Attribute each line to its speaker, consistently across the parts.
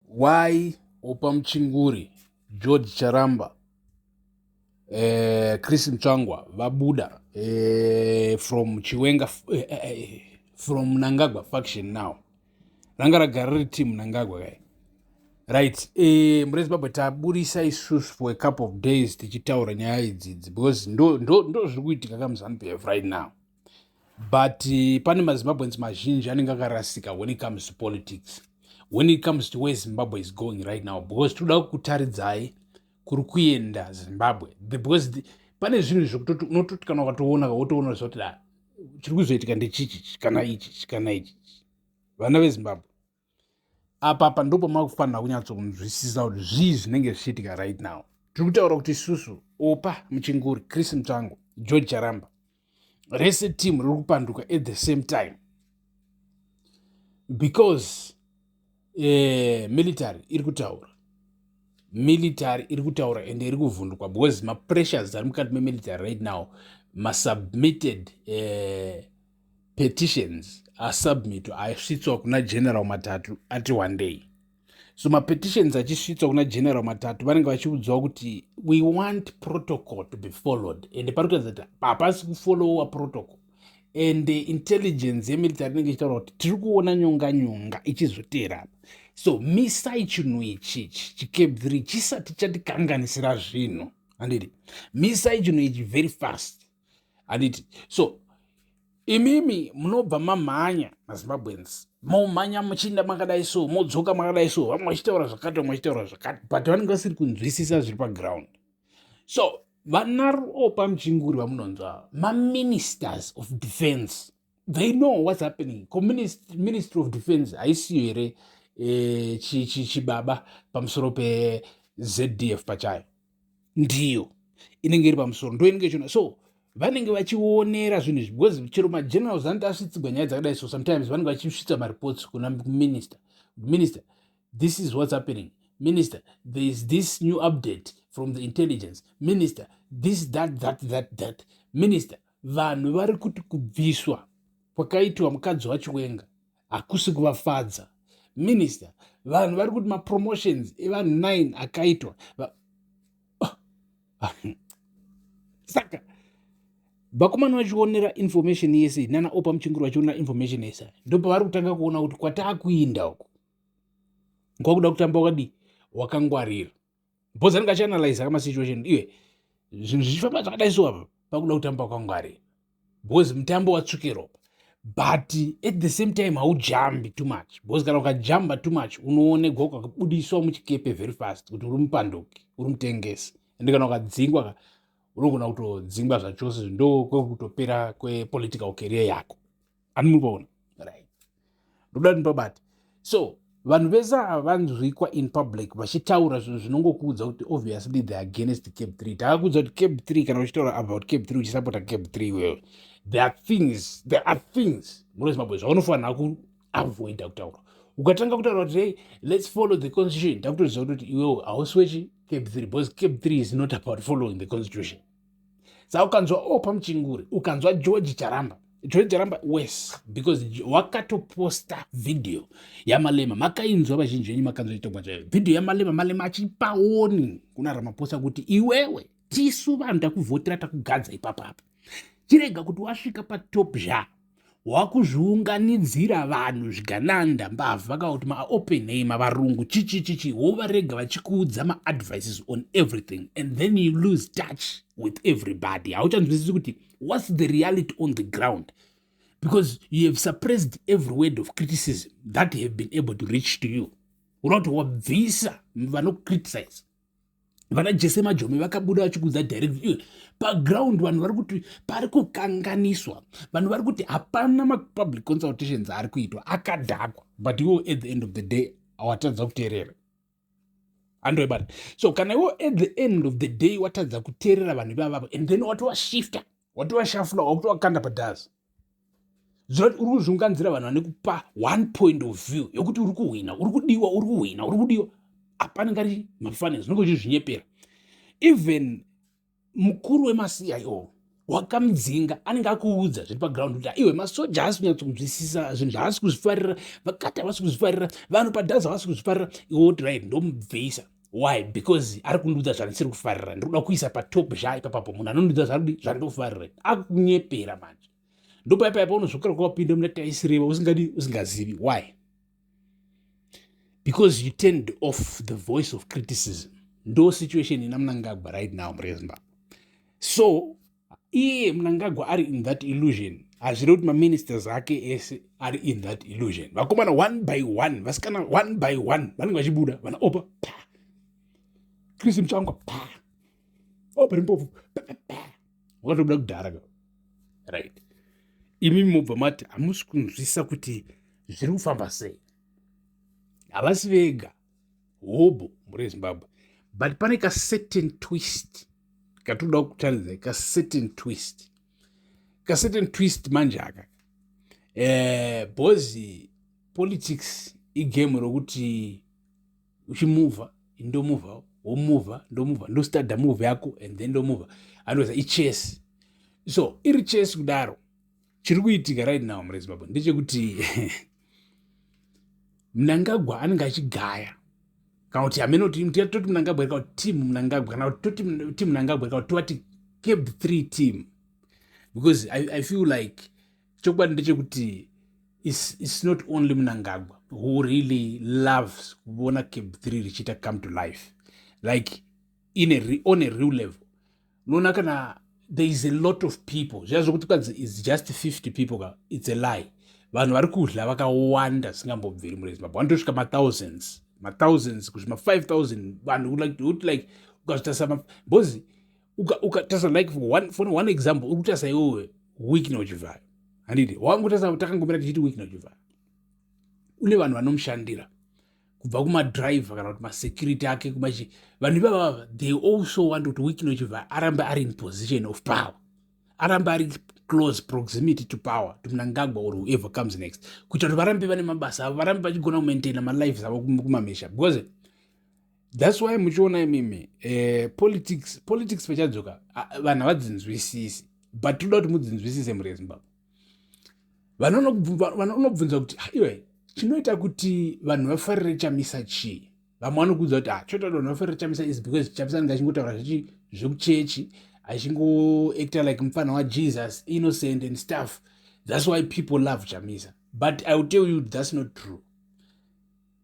Speaker 1: Why opa muchinguri George Charamba eh, Chris Mtsvangwa vabuda eh, from Chiwenga eh, eh, eh from Nangagwa faction now ranga ragara riri team Nangagwa kai right eh, mure Zimbabwe taburisa isusu for a couple of days tichitaura nyaya idzidzi because ndo, ndo, ndo zviri kuitika kamuZanu PF right now but eh, pane mazimbabweans mazhinji anenge akarasika when it comes to politics when it comes to where zimbabwe is going right now because tinoda kutaridzai kuri kuenda zimbabwe because the, pane zvinhu zvekutoti unototi kana ukatoona wotoona zvoti da ah, chiri kuzoitika ndechichichi kana ichichi kana ichichi vana vezimbabwe apa apa ndipo makufanira kunyatsokunzwisisa kuti zvii zvinenge zvichiitika right now tiri kutaura kuti isusu opa muchinguri chris mutsvango george charamba rese team riri kupanduka at the same time because eh, military iri kutaura military iri kutaura ende iri kuvhundukwa because mapressures ari mukati memilitary right now masubmitted eh, petitions asubmito asvitswa kuna general matatu ati wandei so mapetitions achisvitswa kuna general matatu vanenge vachiudzwa kuti we want protocol to be followed ende pari kuratidza kuti hapasi kufollowa protocol and intelligence yemilitary inenge ichitaura kuti tiri kuona nyonga nyonga ichizoteera apa so misai chinhu ichi chikebviri chisati chatikanganisira zvinhu handiti misai chinhu ichi very fast handiti so imimi munobva mamhanya mazimbabwens momhanya muchiinda makadai so modzoka makadai so vamwe vachitaura zvakati vamwe vachitaura zvakati but vanenge vasiri kunzwisisa zviri paground so vanaropa muchinguri vamunonzwa maministers of defense they know what's happening ministry of defense haisiyo here eh, chibaba pamusoro pezd f pachayo ndiyo inenge iri pamusoro ndo inenge ichiona so vanenge vachionera zvinhu izvi because chero magenerals anoti asvitsigwa nyaya dzakadai so sometimes vanenge vachisvitsa mareports kuna minister minister this is what's happening minister there is this new update from the intelligence minister this that that that that minister vanhu vari kuti kubviswa kwakaitwa mukadzi wachiwenga hakusi kuvafadza minister vanhu vari kuti mapromotions evanhu 9 akaitwa ah, ah, hmm. saka vakomana vachionera information yese nana opa muchingiro vachionera information yese ndopavari kutanga kuona kuti kwataakuinda uku kwakuda kutamba wakadii wakangwarira bhoza ringa chianalyza kama situation iwe zvinhu zvichifamba zvakadai so apa pakuda kutamba kwangwari because mutambo watsvuke ropa but at the same time haujambi too much because kana ukajamba too much unoonegwa ukabudiswa muchikepe very fast kuti uri mupanduki uri mutengesi ende kana ukadzingwa ka unogona kutodzingwa zvachose ndo kwekutopera kwepolitical career yako ani muri kuona right ndoda kuti ndipabate so vanhu vese ava vanzwikwa in public vachitaura zvinhu zvinongokuudza kuti obviously the against cab 3 takakuudza kuti cab 3 kana uchitaura about cab 3 uchisapota cab 3 iwewe there are things there are things munozimbabwe zvaunofanira kuavoida kutaura ukatanga kutaura kuti hey let's follow the constitution ndakutoziva kuti iwewe hausi wechi cab 3 because cab 3 is not about following the constitution sa ukanzwa opa oh, muchinguri ukanzwa george charamba george charamba wes because wakatoposta vhidhiyo yamalema makainzwa vazhinji venyu makanzwa chitongwa chayo vhidhiyo yamalema malema achipaoni kuna ramaposa kuti iwewe tisu vanhu takuvhotera takugadza ipapapa chirega kuti wasvika patop zhaa wakuzviunganidzira vanhu zvigananda mbavha kana kuti maopen name varungu chichi chichi wovarega vachikuudza maadvices on everything and then you lose touch with everybody hauchanzwisisi kuti what's the reality on the ground because you have suppressed every word of criticism that have been able to reach to you unokuti wabvisa vanocriticize vana jese majome vakabuda vachikudza direct iwe paground vanhu vari kuti pari kukanganiswa vanhu vari kuti hapana mapublic consultations ari kuitwa akadhakwa but iwo at the end of the day awatadza kuteerera andoibata so kana iwo at the end of the day watadza kuteerera vanhu ivavavo and then watovashifta watovashafula wakutovakanda padhazi uri kuzviunganzira vanhu vane kupa one point of view yokuti uri kuhwina uri kudiwa uri kuhwina uri kudiwa hapana ngari mafanira zvinenge uchizvinyepera even mukuru wemasiyaio wakamudzinga anenge akuudza zviri paground kuti aiwe masoja haasi kunyatso kunzwisisa zvinhu zvaasi kuzvifarira vakati havasi kuzvifarira vanhu padhazi havasi kuzvifarira iwe woti right ndomubvisa why because ari kundiudza zvandisiri kufarira ndiri kuda kuisa patop zhaa ipapapo munhu anondiudza zvarudi zvandinofarira akunyepera manje ndopaipaipa unozvokera kwawapinda muna taisireva usingadi usingazivi why because you turned off the voice of criticism ndo situation ina munangagwa right now mure zimbabwe so iye mnangagwa ari in that illusion hazvire kuti maministers ake ese ari in that illusion vakomana one by one vasikana one by one vanenge vachibuda vana opa pa chris muchangwa pa opa rimpofu pa pa wakatobuda kudhara ka right imi mobva mati hamusi kunzwisa kuti zviri kufamba sei havasi vega hobho mhuri yezimbabwe but pane ka certain twist katoda kutariza ka certain twist ka certain twist manje aka eh bozi politics igame rokuti uchimuva ndomuva womuva ndomuva ndostada move yako and then ndomuva anoza ichess so iri chess kudaro chiri kuitika right now mure zimbabwe ndechekuti mnangagwa anenge achigaya kana kuti hameno toti mnangagwa kana kuti team mnangagwa kana kuti toti team mnangagwa kana kuti tovati cab three team because I, i feel like chokwadi ndechekuti it's, it's not only mnangagwa who really loves kuona cab three richiita come to life like in a, on a real level unoona kana there is a lot of people zviya zvekuti kwanzi is just 50 people ka its a lie vanhu vari kudla vakawanda singambobviri murezi mabho vanotosvika mathousands mathousands kusvika ma5000 vanhu like to like ukazvitarisa because ukatarisa like for one, for one example uri kutarisa iwewe week nochivhayo handidi wangu tarisa takangomira tichiti week nochivhayo une vanhu vanomushandira kubva kumadriver kana kuti masecurity ake kumachi vanhu ivava they also want kuti wikino chibva arambe ari in position of power arambe ari close proximity to power to mnangagwa or whoever comes next kuita kuti varambe vane mabasa avo varambe vachigona kumaintaina malives avo kumamisha because thats why muchiona imimi eh, politics politics pachadzoka vanhu havadzinzwisisi but toda kuti mudzinzwisise muri yezimbabwe vanonobvunza kuti haiwe chinoita kuti vanhu vafarire chamisa chii vamwe vanokuudza kuti ah, choita kuti vanhu vafarire chamisa is because chamisa anenge achingotaura zvechi zvekuchechi achingoacta like mupfanha wajesus innocent and stuff thats why people love chamisa but i will tell you thats not true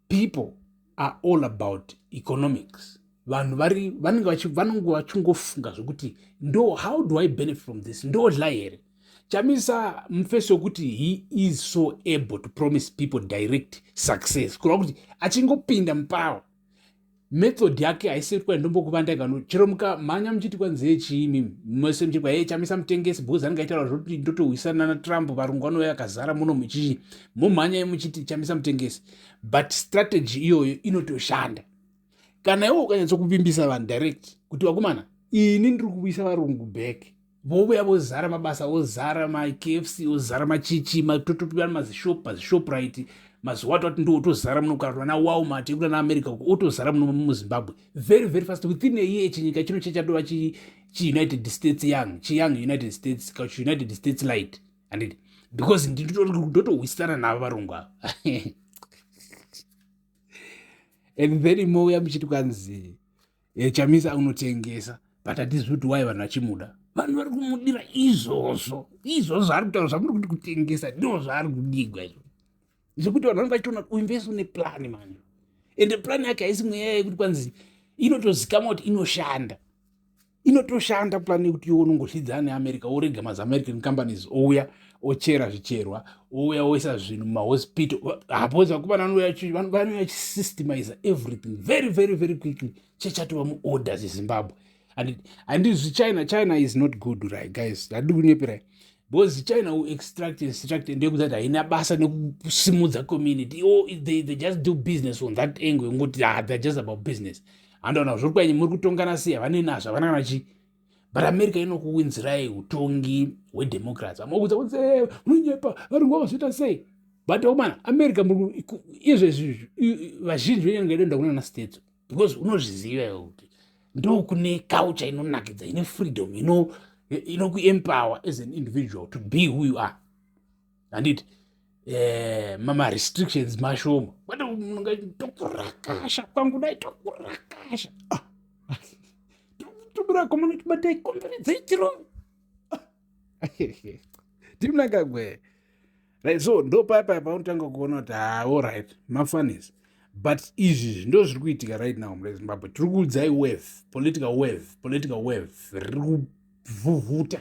Speaker 1: people are all about economics vanhu vari vanenge vanenge vachingofunga zvekuti ndo how do i benefit from this ndodla here chamisa mufesi wekuti he is so able to promise people direct success kureva kuti achingopinda mupawa method yake haisiri kuva ndombokuvandai vanhu chero mukamhanya muchiti kwanzi ye chiimi mese muchiti kwaye chamisa mutengesi because anenge aitaura zvekuti ndotohwisana natrump varungu vanouya akazara muno muchichi mumhanyai muchiti chamisa mutengesi but strategy iyoyo inotoshanda kana iwe ukanyatsokuvimbisa vanhu direct kuti vakomana ini ndiri kuvuyisa varungu back vouya vozara mabasa vozara makfc ozara machichi totopiwa mazishop pazishoprite mazuva wato ati ndo otozara muno kana vana walmart yekuda naamerica uko otozara muno muzimbabwe very very fast within a year chinyika chino chachadova chiunited states young chiyoung united states kachiunited states light handiti because ndotohwisana navo varungu ava and then mouya muchiti kwanzi e, chamisa unotengesa but hatizivi kuti wai vanhu vachimuda vanhu vari kumudira izvozvo izvozvo zvaari kutaura zvamuri kuti kutengesa ndo zvaari kudigwa izvo zvekuti vanhu vanenge vachitoona kuti uimvesa une plani manje ende plani yake haisi mweya yekuti kwanzi inotozikamwa kuti inoshanda inotoshanda plani yekuti iwe unongoshidzana neamerica worega maziamerican companies ouya ochera zvicherwa ouya oisa zvinhu mumahospital hapodzi vakomana vanouya vachisystemize everything very very very quickly chechatova muorder zezimbabwe and handizvi china china is not good right guys handi kunyeperai because china will extract and extract and ndekuti ati haina basa nekusimudza community o oh, they, they just do business on that angle ngoti ah, they're just about business handaona zviri kwanyi muri kutongana sei havane nazvo havana kana chii but america inokuwinzirai utongi hwedemocracy amokuudza kuti eh, munyepa varungu vakazoita sei but omana oh america izvezvi vazhinji venyange idoenda kunana states because unozviziva iwe kuti ndokune culture inonakidza ine freedom inokuempower as an individual to be who you are handiti eh, mamarestrictions mashoma kwete munonga tokurakasha kwangu dai tokurakasha ah, tokurako munotibatai komberedzei chirovi timnaka gwee right so ndo paya paya paunotanga kuona kuti haa ah, allright mafanis but izvi ndo zviri kuitika right now mure zimbabwe tiri kuudzai wave political wave political wave riri kuvhuvhuta